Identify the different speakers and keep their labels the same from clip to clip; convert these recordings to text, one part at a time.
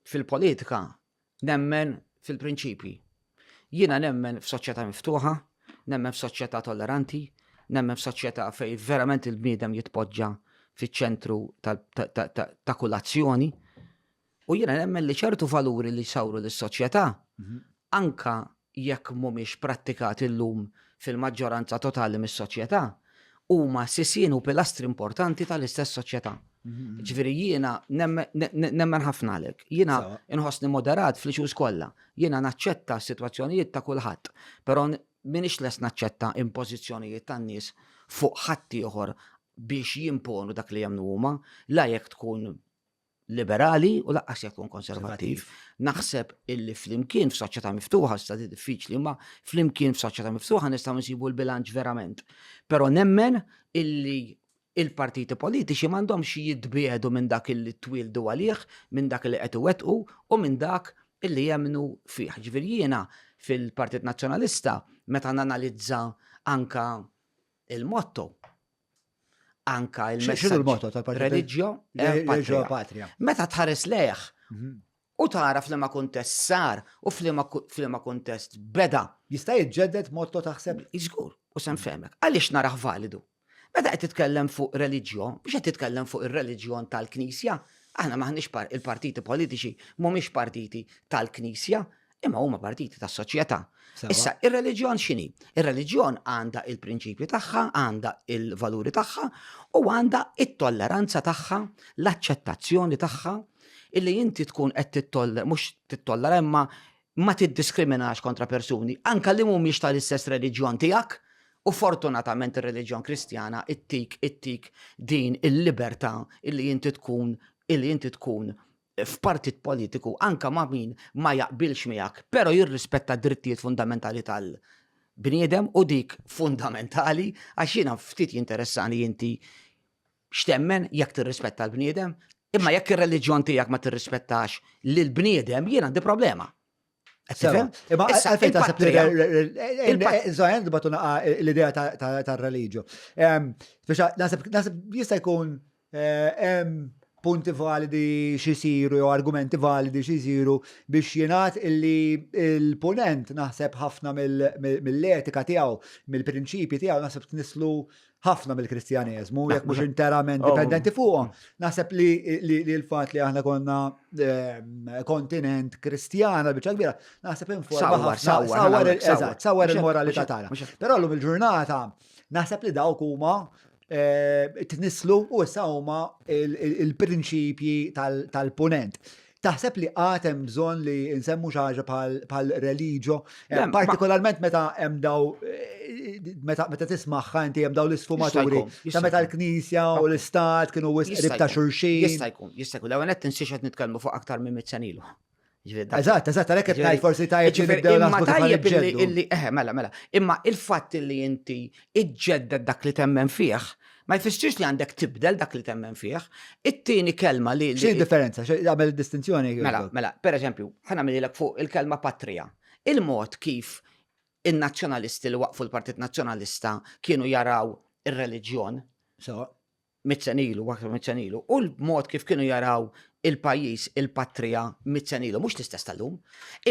Speaker 1: Fil-politika nemmen fil-prinċipji. Jiena nemmen f'soċjetà miftuħa, nemmen f'soċjetà tolleranti, nemmen f'soċjetà fejn verament il-bniedem jitpoġġa fiċ-ċentru ta' kull azzjoni. U jiena nemmen li ċertu valuri li jsawru lis-soċjetà mhm. anka jekk mhumiex prattikati llum fil-maġġoranza totali mis-soċjetà, huma sisien u pilastri importanti tal-istess soċjetà. Jiġifieri jiena nemmen ħafna għalhekk. Jiena nħossni moderat fl-issues kollha. Jiena naċċetta s-sitwazzjonijiet ta' kulħadd, però m'iniex lest naċċetta impożizzjonijiet tan-nies fuq ħaddieħor biex jimponu dak li jemmnu huma, la jekk tkun liberali u laqqas jekk nkun konservattiv. Naħseb illi flimkien f'soċjetà miftuħa sta diffiċli, ma flimkien f'soċjetà miftuħa nistgħu nsibu l-bilanċ verament. Però nemmen illi il-partiti politiċi m'għandhomx jitbiedu minn dak illi twildu għalih, minn dak li qed iwettqu u minn dak illi jemnu fih. Ġifier jiena fil-Partit Nazzjonalista meta nanalizza anka il-motto anka il-messaġġ
Speaker 2: reliġjo reġio
Speaker 1: patria. Meta tħares lejh mhm. u tara f'liema kuntest sar u f'liema kuntest beda. Jista' jiġġedded
Speaker 2: motto taħseb? Iżgur, u sem
Speaker 1: femek. Għaliex naraħ validu? Meta qed titkellem fuq reliġjo, biex qed titkellem fuq ir-reliġjon tal-Knisja, aħna maħniex il-partiti politiċi mhumiex partiti tal-Knisja, imma huma partiti tas soċjetà. Issa, ir-reliġjon x'inhi? Ir-reliġjon għandha il-prinċipji tagħha, għandha il-valuri tagħha u għandha it-tolleranza tagħha, l-aċċettazzjoni tagħha, illi inti tkun qed tittollera, mhux tittollera imma ma tiddiskriminax kontra persuni, anka li mhumiex tal-istess reliġjon tiegħek, U fortunatament ir-reliġjon kristjana ittik ittik din il-libertà illi inti tkun illi inti tkun f'partit politiku anke ma' min ma jaqbilx miegħek, però jirrispetta d-drittijiet fundamentali tal-bniedem u dik fundamentali għax jiena ftit jinteressani inti x'temmen jekk tirrispetta l-bniedem, imma jekk ir-reliġjon tiegħek ma tirrispettax lill-bniedem jien għandi problema. Tifhem?
Speaker 2: Imma għalfejn taħseb li il-żgħajn batu naqa l-idea tar-reliġju. Naħseb jista' jkun eh, punti validi xisiru jew argumenti validi xisiru biex jenat illi il-ponent naħseb ħafna mill-etika tiegħu, mill-prinċipji tiegħu naħseb tnislu ħafna mill-Kristjaneżmu, jekk mhux interament oh. dipendenti fuqhom. Naħseb li l-fatt li aħna konna ehm, kontinent Kristjana biċċa kbira, naħseb informa sawar il-moralità tagħna. Però llum il-ġurnata naħseb li dawk huma eh, tnislu u issa huma il-prinċipji tal-punent. Taħseb li għad hemm bżonn li nsemmu xi ħaġa bħal religio, eh, partikolarment meta hemm daw eh, meta meta tismagħha inti hemm daw l-isfumaturi ta' meta l-Knisja u l-Istat kienu wisq ta' xulxin. Jista' jkun, jista' jkun, l-ewwel
Speaker 1: qed tinsiex qed nitkellmu fuq aktar minn mit senilu. Eżatt,
Speaker 2: eżatt, għalhekk qed ngħid forsi tajjeb li nibdew naħsbu tajjeb illi eħe, eh,
Speaker 1: mela, mela. Imma il-fatt li inti iġġedded dak li temmen fih, Ma jfissirx li għandek tibdel dak li temmen fih. It-tieni kelma li. Xi differenza? Għamel
Speaker 2: distinzjoni? Mela, mela, per eżempju,
Speaker 1: ħana għamililek fuq il-kelma patrija. Il-mod kif in-nazzjonalisti li waqfu l-Partit Nazzjonalista kienu jaraw ir-reliġjon. So. Mitzenilu, waqt mitzenilu. U l-mod kif kienu jaraw il-pajis, il-patrija, mitzenilu, mux l-istess tal-lum.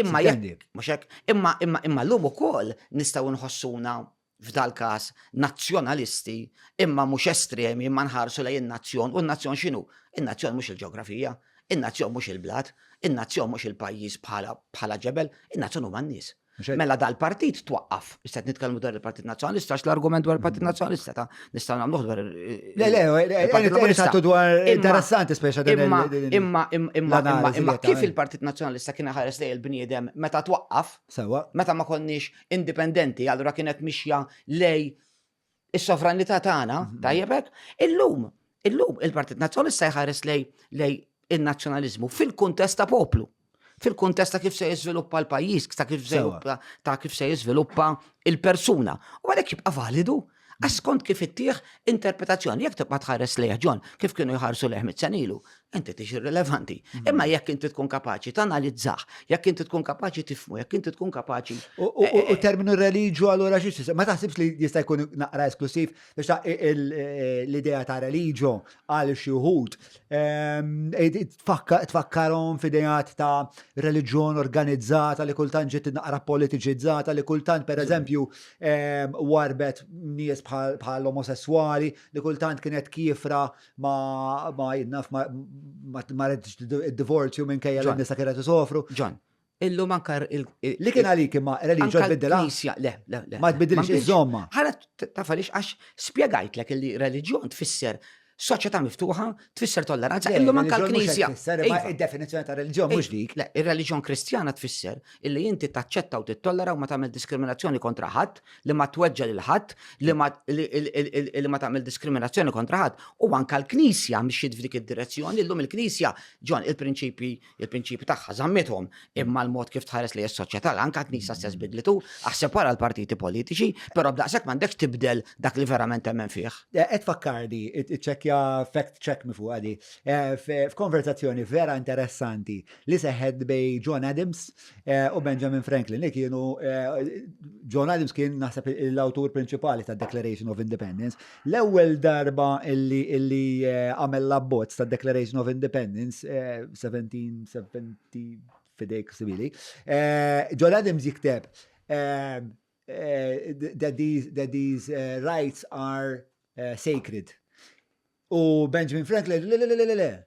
Speaker 1: Imma jek, mux jek, imma, imma, imma l-lum u kol nistaw nħossuna f'dal-każ, nazzjonalisti, imma mhux estremi, imma nħarsu lejn in-nazzjon, u n-nazzjon x'inhu? In-nazzjon mhux il-ġeografija, in-nazzjon mhux il-blat, in-nazzjon mhux il-pajjiż bħala bħala ġebel, in-nazzjon huma n-nies. Mela dal-partit twaqqaf, issa qed nitkellmu dwar il-Partit Nazzjonalista għax l-argument dwar il-Partit Nazzjonalista ta' nistgħu nagħmluh dwar Le, le, il-Partit
Speaker 2: Laburista tu dwar Imma- interessanti speċa din Imma, il- din- imma, imma, imma,
Speaker 1: imma, l-analiżi imma li kif għamel. il-Partit Nazzjonalista kien ħares lejn il-bniedem meta twaqqaf, Sewa. meta ma konniex indipendenti, allura kienet mixja lej is-sovranità tagħna, mhm. tajjeb hekk, illum, illum il-Partit Nazzjonista jħares lej lej in-nazzjonaliżmu fil-kuntest ta' poplu fil-kuntest ta' kif se jiżviluppa l-pajjiż, ta' kif se ta' kif se jiżviluppa il-persuna. U għalhekk jibqa' validu, Għax skont kif ittieħ interpretazzjoni, jekk tibqa' tħares lejh John, kif kienu jħarsu lejh mit-senilu, inti tix irrilevanti. Mhm. Imma jekk inti tkun kapaċi tanalizzah, jekk inti tkun kapaċi tifmu, jekk inti tkun kapaċi. U eh, eh, eh. terminu
Speaker 2: religju allura xi ma taħsibx li jista' jkun naqra esklusiv biex l-idea ta' religju għal xi wħud. Tfakkarhom f'idejat ta' reliġjon organizzata li kultant ġiet naqra politiċizzata li kultant pereżempju warbet nies bħal omosessuali li kultant kienet kifra ma jinnaf ma id-divorzju minn kejja l-nisa kienet isofru. Ġan, Illum
Speaker 1: anka Li kien għalik
Speaker 2: imma reliġjon tbiddilha? Knisja, le, le, le. Ma
Speaker 1: tbiddilx iż-żomma.
Speaker 2: Ħala taf għaliex
Speaker 1: għax spjegajtlek li reliġjon tfisser soċjetà miftuħa, tfisser tolleranza, illum anka l-Knisja. Iva. Id-definizzjoni ta'
Speaker 2: reliġjon mhux dik. Le, ir-reliġjon Kristjana
Speaker 1: tfisser illi inti taċċetta u tittollera u ma tagħmel diskriminazzjoni kontra ħadd, li ma tweġġa' lil ħadd, li ma tagħmel diskriminazzjoni kontra ħadd, u anka l-Knisja mxiet f'dik id-direzzjoni, illum il-Knisja ġon il-prinċipji il-prinċipji tagħha żammithom imma l-mod kif tħares li s-soċjetà anke knisa stess bidlitu aħseb wara l-partiti politiċi, però b'daqshekk m'għandekx tibdel dak li verament temmen fih. Eh, qed fakkardi,
Speaker 2: iċċekkja fact check mi fuq għadi. Eh, f'konverzazzjoni vera interessanti li seħed bej John Adams eh, u Benjamin Franklin li kienu John Adams kien naħseb l-awtur prinċipali ta' Declaration of Independence, L-ewwel darba illi illi eh, għamel l-abbozz ta' Declaration of Independence, 1770 eh, fidejk sibili, eh, John Adams jikteb that these, that these rights are sacred. U Benjamin Franklin, le, le, le, le, le,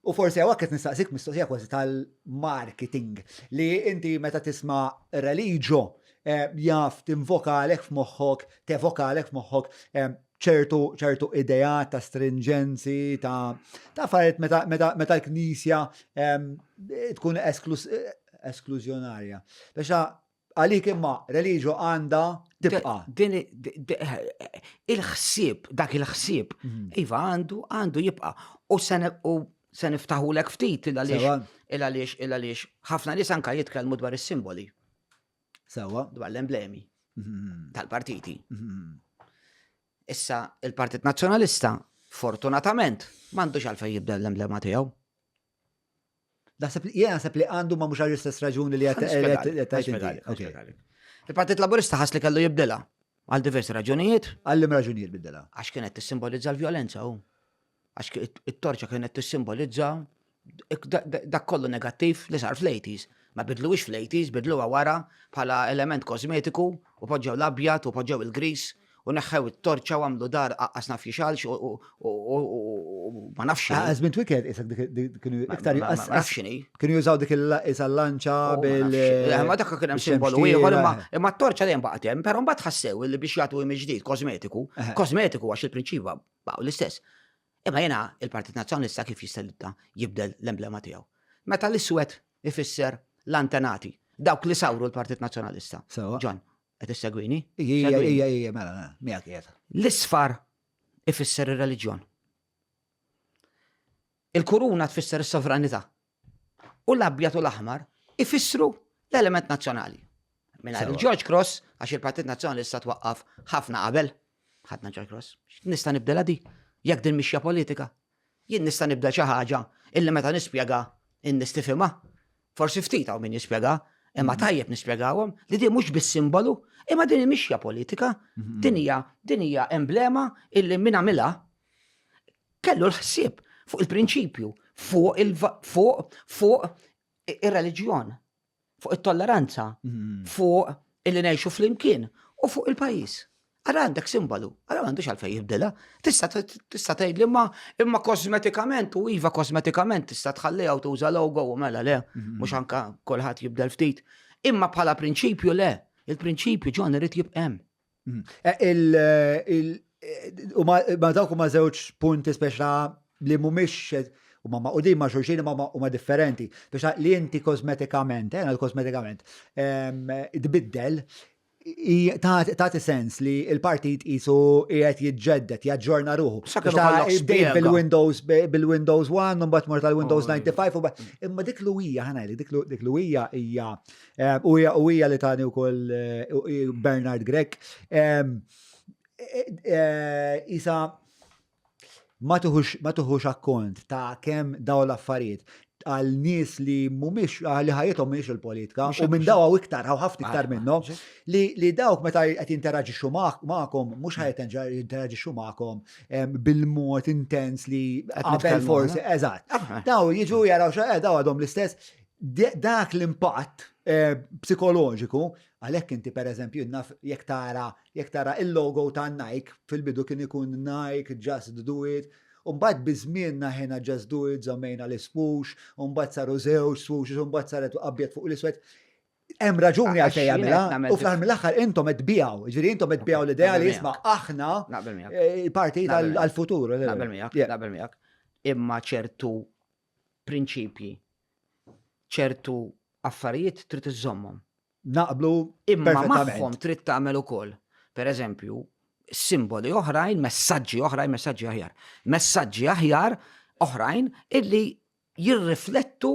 Speaker 2: U forsi hawn qed nistaqsik mistoqsija kważi tal-marketing li inti meta tisma' Religio eh, jaf tinvokalek f'moħħok, tevokalek f'moħħok eh, ċertu ċertu ideat ta' strinġenzi, ta' ta' affarijiet meta meta meta l-Knisja eh, tkun esklus- eh, esklużjonarja. Biex ta' Għalik imma religio għandha tibqa'. Din il-ħsieb, dak il-ħsieb, iva għandu għandu jibqa' u se niftaħulek ftit il-għaliex il-għaliex ħafna nies anka jitkellmu dwar is-simboli. Sewa. Dwar l-emblemi
Speaker 1: mhm. tal-partiti. Mhm. Issa il-Partit Nazzjonalista fortunatament m'għandux għalfejn jibda l-emblema tiegħu. Naħseb li
Speaker 2: jena naħseb li għandu ma mhux għall-istess raġuni li qed
Speaker 1: Il-Partit Laburista ħas li kellu jibdilha għal diversi raġunijiet. Għallim raġunijiet bidilha.
Speaker 2: Għax kienet tissimbolizza
Speaker 1: l-vjolenza u għax it-torċa kienet tissimbolizza dak kollu negattiv li sar fl-80s. Ma bidluwix fl-80s, bidluwa wara bħala element kosmetiku u poġġew l-abjad u poġġew il-gris u neħħew it-torċa u għamlu dar aqqas naf jixalx u ma nafx. Għaz minn twiket, isak
Speaker 2: kienu iktar jgħas. Ma nafx xini. Kienu
Speaker 1: jużaw dik
Speaker 2: il-lanċa bil. Eh, ma dak kien hemm
Speaker 1: simbolu ieħor imma t-torċa dejjem baqgħet hemm, però mbagħad ħassew li biex jagħtu imi ġdid kosmetiku, kosmetiku għax il-prinċipa baqgħu l-istess. Imma jena il-Partit Nazzjonalista kif jista' jibdel l-emblema tiegħu. Meta l-iswed ifisser l-antenati, dawk li sawru l-Partit Nazzjonalista. Ġon, Qed issegwini? Ija, ija, ija, mela,
Speaker 2: mela, miegħek qiegħed. L-isfar
Speaker 1: ifisser ir-reliġjon. Il-kuruna tfisser is-sovranità. U l-abjad u l-aħmar ifissru l-element nazzjonali. Minna il-George Cross, għax il-Partit Nazzjonalista twaqqaf ħafna qabel, ħadna George Cross. Nista' nibdela di, jekk din mixja politika, Jien nista' nibda xi ħaġa illi meta nispjega n-nies tifhimha. Forsi ftit hawn min jispjega, imma tajjeb nispjegahom li din mhux biss simbolu, imma din hi mixja politika, din hija din hija emblema illi min għamilha kellu l-ħsieb fuq il-prinċipju, fuq fuq fuq ir-reliġjon. fuq it-tolleranza, fuq illi ngħixu flimkien u fuq il-pajjiż. Ara għandek simbolu, ara m'għandux għalfejn jibdilha. Tista' tgħid li ma imma kosmetikament u iva kosmetikament tista' tħalliha u tuża logo u mela le, mhm. mhux anka kulħadd jibdel ftit. Imma bħala prinċipju le, il-prinċipju ġon irid jibqem. Mm. Eh,
Speaker 2: u ma dawk huma żewġ punti speċa li mhumiex u ma maqudin ma xulxin ma huma differenti. Biex li inti kosmetikament, eh, għal kosmetikament, ehm, tbiddel ta' sens li il-partit jisu jgħet jitġeddet, jaġġorna ruħu. Bdejt bil-Windows,
Speaker 1: bil-Windows 1,
Speaker 2: un bat mort tal-Windows 95, oh,
Speaker 1: imma dik
Speaker 2: l-uwija, ħanajli, dik l-uwija hija U hija li tani wkoll Bernard Grek. Isa ma tuħux akkont ta' kemm daw l-affarijiet għal nies li mumiex li ħajjithom mhix il-politika u minn daw għaw iktar għaw ħafna iktar minnhom li dawk meta qed jinteraġixxu magħkom mhux ħajt jinteraġixxu magħkom bil-mod intens li qabel forsi eżatt. Daw jiġu jaraw xi daw għadhom l-istess dak l-impatt eh, psikoloġiku, għalhekk inti pereżempju naf jekk tara jekk tara il-logo ta' Nike fil-bidu kien ikun Nike, Just Do It, Umbat bizmin naħena just do it, zammejna l-ispux, umbat saru zewġ spux, umbat saret abjad fuq l-iswet. Hemm raġuni għal fejja mela, u fl mill-aħħar intom qed bijaw, ġifieri intom qed bijaw l-idea li jisma' aħna eh, il-parti għall-futur. Naqbel miegħek, naqbel
Speaker 1: miegħek. Imma ċertu prinċipji, ċertu affarijiet trid iżżommhom. Naqblu
Speaker 2: imma magħhom
Speaker 1: trid tagħmel ukoll. Per eżempju, simboli oħrajn, messaġġi oħrajn, messaġġi aħjar. Messaġġi aħjar oħrajn illi jirriflettu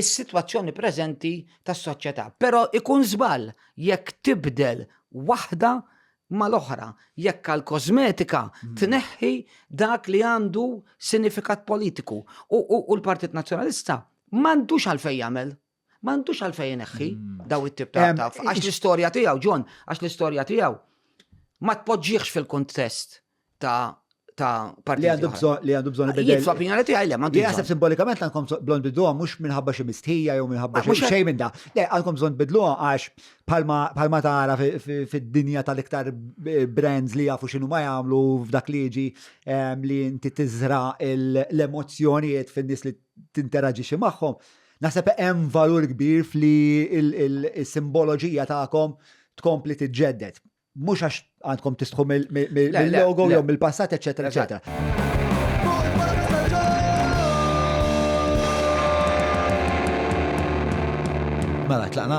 Speaker 1: is-sitwazzjoni preżenti tas-soċjetà. Però ikun żball jekk tibdel waħda mal-oħra jekk għall-kożmetika tneħħi dak li għandu sinifikat politiku. U l-Partit Nazzjonalista m'għandux għalfejn jagħmel. M'għandux għalfejn ineħħi daw it-tip ta' għax l-istorja tiegħu, John, għax l-istorja tiegħu ma tpoġġiex fil-kuntest ta' ta' parti. Li għandu bżon, li għandu bżon
Speaker 2: il-bidel. Jitfa pinjoni tiegħi le,
Speaker 1: ma' Li għasab simbolikament għandkom
Speaker 2: blond bidluha mhux minħabba xi mistħija jew minħabba xi xejn minn da. Le, għandkom bżon bidluha għax palma tara fid-dinja tal-iktar eh, brands li jafu xinu ma jagħmlu f'dak li jiġi ehm, li inti tiżra l-emozzjonijiet fin-nies li tinteraġixxi magħhom. Naħseb hemm valur kbir fli il-simboloġija tagħkom tkompli tiġġedded. Mhux għax għandkom tistħu mill-logo jew mill-passat, eċetera, eċetera. Mela, tlaqna?